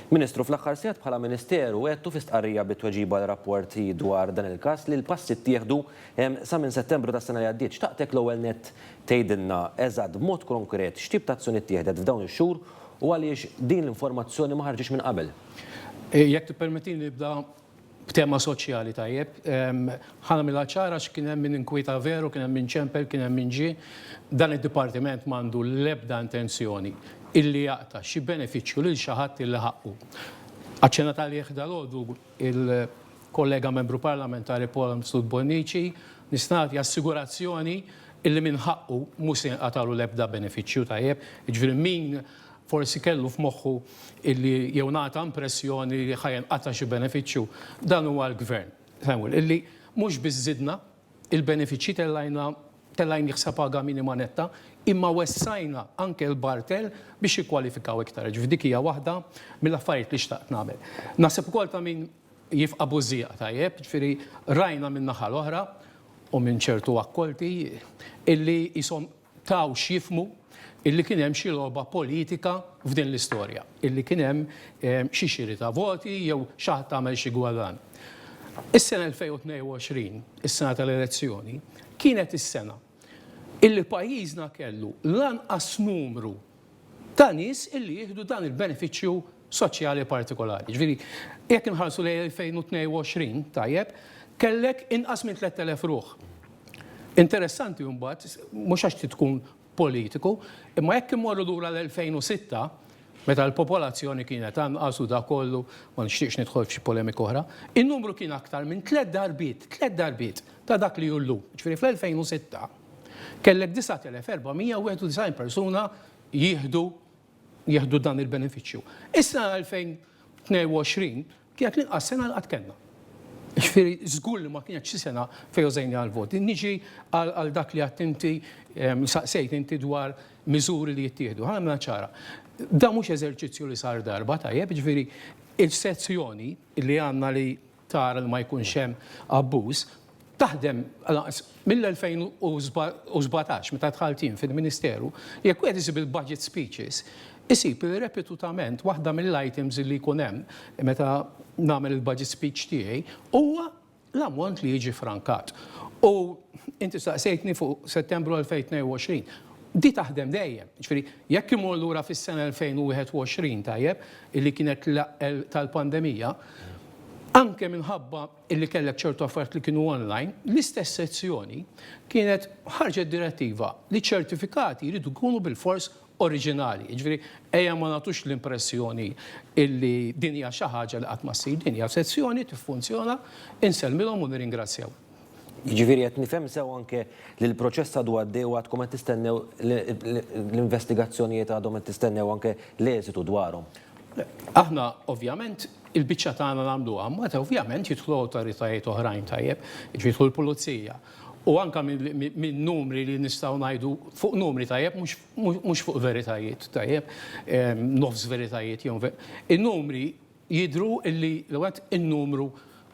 Ministru, fl-aħħar sigħat bħala Ministeru għedtu fi stqarrija bi tweġiba għal rapporti dwar dan il-każ li l-passi ttieħdu sa minn Settembru tas-sena li għaddiet. Xtaqtek l-ewwel nett tgħidilna eżatt b'mod konkret x'tip ta' azzjoni ttieħdet f'dawn ix-xhur u għaliex din l-informazzjoni ma ħarġitx minn qabel. Jekk tippermettili nibda b'tema soċjali tajjeb. Ħa nagħmilha ċara għax kien hemm min inkwieta veru, kien hemm min ċempel, kien hemm min ġie. Dan id-dipartiment m'għandu l-ebda intenzjoni illi jaqta' xi benefiċċju lil xi ħadd illi ħaqqu. Aċċennat għalih dalgħodu l-kollega Membru Parlamentari Paul Amslut Bonnici, nista' nagħti assigurazzjoni illi min ħaqqu mhu se jinqatagħlu l-ebda benefiċċju tajjeb. Jiġifieri min Forsi kellu f'moħħu illi jew ngħata impressjoni li ħa jinqata' xi benefiċċju. Dan huwa l-Gvern, Samuel, illi mhux biss żidna il-benefiċċji tellajna tellajnih sa paga minima netta, imma wessajna anke l-bartell biex jikkwalifikaw iktar. Jiġifieri dik hija waħda mill-affarijiet li xtaqt nagħmel. Naħseb ukoll ta' min jifqa' bużżieqa tajjeb, jiġifieri rajna min-naħa l-oħra u minn ċertu akkolti illi qishom taw x'jifhmu illi kien hemm xi logħba politika f'din l-istorja, illi kien hemm xi xiri ta' voti jew xi ħadd għamel xi gwarrann. Is-sena 2022, is-sena tal-elezzjoni, kienet is-sena illi pajjiżna kellu l-anqas numru ta' nies li jieħdu dan il-benefiċċju soċjali partikolari. Jiġifieri, jekk inħarsu lejn 2022, tajjeb, kellek inqas minn 3,000 ruħ. Interessanti mbagħad, mhux għax trid tkun politiku, imma jekk immorru lura l-2006, meta l-popolazzjoni kienet anqas u dak kollu, ma nixtieqx nidħol f'xi polemika oħra, in-numru kien aktar minn tliet darbiet, tliet darbiet ta' dak li hu llum. Jiġifieri fl-2006, kellek 9,491 persuna jieħdu jieħdu dan il-benefiċċju. Is-sena 2022 kienet l-inqas sena li qatt kellna. Ġifieri żgur li ma kienx xi sena fejn użajni għall-voti. Niġi għal dak li għadt inti saqsejt inti dwar miżuri li jittieħdu. Ħa nagħmilha ċara. Dan mhux eżerċizzju li sar darba, tajjeb, ġifieri il-sezzjoni li għandna li tara li ma jkunx hemm abbuż, taħdem lanqas mill-2017 meta dħalt jien fil-Ministeru, jekk wieħed isib il-budget speeches, isib li repetutament waħda mill-items li jkun hemm meta nagħmel il-budget speech tiegħi huwa l-ammont li jiġi frankat. U inti staqsejtni fuq Settembru 2022. Di taħdem dejjem. Ġifieri, jekk imur lura fis-sena 2021, tajjeb, illi kienet tal-pandemija, Anke minħabba li kellek ċertu affarijiet li kienu online, l-istess sezzjoni kienet ħarġet direttiva li ċ-ċertifikati jridu jkunu bilfors oriġinali. Jiġifieri ejja ma nagħtux l-impressjoni li din hija xi ħaġa li qatt ma ssir. Din hija sezzjoni tiffunzjona, insellmilhom u nirringrazzjaw. Jiġifieri qed nifhem sew anke li l-proċess għadu għaddej u għadkom qed tistennew l-investigazzjonijiet għadhom qed tistennew anke l-eżitu dwarhom? Aħna ovvjament il-biċċa tagħna nagħmluha, imbagħad ovvjament jidħlu awtoritajiet oħrajn tajjeb, jiġifieri jidħlu l-pulizija. U anke min-numri li nistgħu ngħidu fuq numri tajjeb mhux fuq veritajiet tajjeb, nofs veritajiet jew in-numri Jidhru li l-ewwel nett in-numru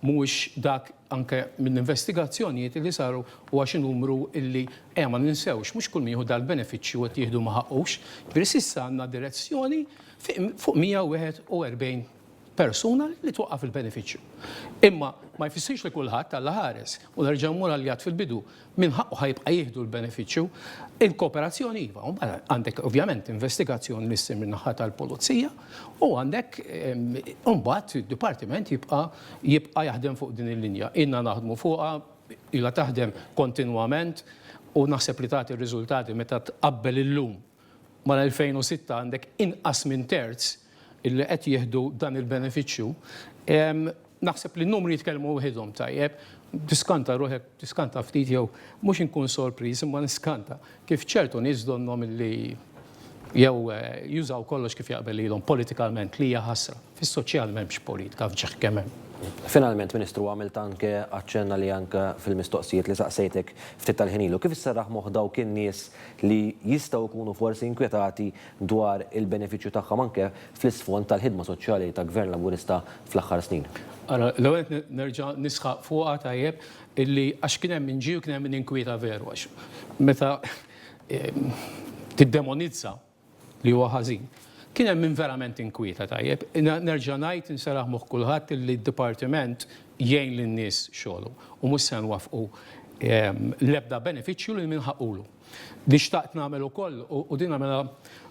mhuwiex dak anke mill-investigazzjonijiet li saru huwa xi numru li ejja ma ninsewx mhux kull min jieħu dal-benefiċċju qed jieħdu ma ħaqqux. Jiġifieri s'issa għandna direzzjoni fuq 141 persuna li twaqqaf il-benefiċċju. Imma ma jfissirx li kulħadd, Alla ħares, u nerġa' mmur għal li għidt fil-bidu, Min ħaqqu ħa jibqa' jieħdu l-benefiċċju? Il-kooperazzjoni iva, u mbagħad għandek ovvjament investigazzjoni li ssir min-naħa tal-pulizija u għandek u mbagħad id-dipartiment jibqa' jibqa' jaħdem fuq din il-linja. Ilna naħdmu fuqha, ilha taħdem kontinwament u naħseb li tagħti r-riżultati meta tqabbel illum mal-2006 għandek inqas minn terz li qed jieħdu dan il-benefiċċju. Naħseb li n-numri jitkellmu waħidhom tajjeb. Tiskanta ruħek, tiskanta ftit jew mhux inkun sorpriż imma niskanta kif ċertu nies donnhom li jew jużaw kollox kif jaqbel lilhom politikalment li hija ħasra. Fis-soċjal m'hemmx politka f'ġieħ kemm hemm. Finalment, Ministru, għamilt anke aċċenn għalih anke fil-mistoqsijiet li saqsejtek ftit tal-ħin ilu. Kif isserraħ moħħ dawk in-nies li jistgħu jkunu forsi inkwetati dwar il-benefiċċju tagħhom anke fl-isfond tal-ħidma soċjali ta' Gvern Laburista fl-aħħar snin? Ara, l-ewwel nett nerġa' nisħaq fuqha tajjeb illi għax kien hemm min ġie u kien hemm min inkwieta veru għax meta tiddemonizza, li huwa ħażin. Kien hemm min verament inkwieta, tajjeb. Nerġa' ngħid, inserraħ moħħ kulħadd illi d-dipartiment jgħin lin-nies xogħolhom u mhux se nwaffqu l-ebda benefiċċju lil min ħaqqulu. Li xtaqt nagħmel ukoll, u din nagħmilha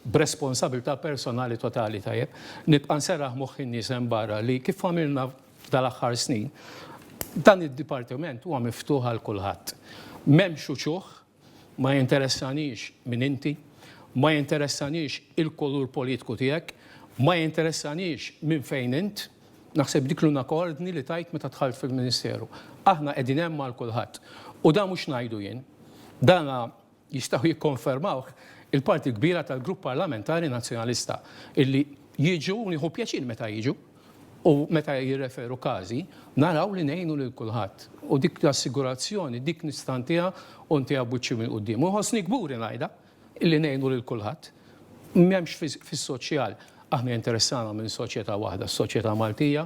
b'responsabilità personali totali, tajjeb, nibqa' nserraħ moħħ in-nies hemm barra li kif għamilna f'dal-aħħar snin, dan id-dipartiment huwa miftuħ għal kulħadd. M'hemmx uċuħ, Ma jinteressanix min inti, ma jinteressanix il-kulur politku tiegħek, ma jinteressanix minn fejn int. Naħseb dik l-unak ordni li tajt meta dħalt fil-Ministeru. Aħna qegħdin hemm għal kulħadd. U dan mhux ngħidu jien. Dan jistgħu jikkonfermawh il-parti l-kbira tal-Grupp Parlamentari Nazzjonalista illi jiġu u nieħu pjaċir meta jiġu. u meta jirreferu każi, naraw li ngħinu lil kulħadd u dik l-assigurazzjoni dik nista' ntiha u ntiha b'wiċċi mill-quddiem. U jħossni kburi ngħidha li ngħinu lil kulħadd. M'hemmx fis-soċjal aħna jinteressana minn soċjetà waħda, s-soċjetà Maltija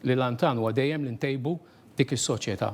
li l-għan tagħna huwa dejjem li ntejbu dik is-soċjetà.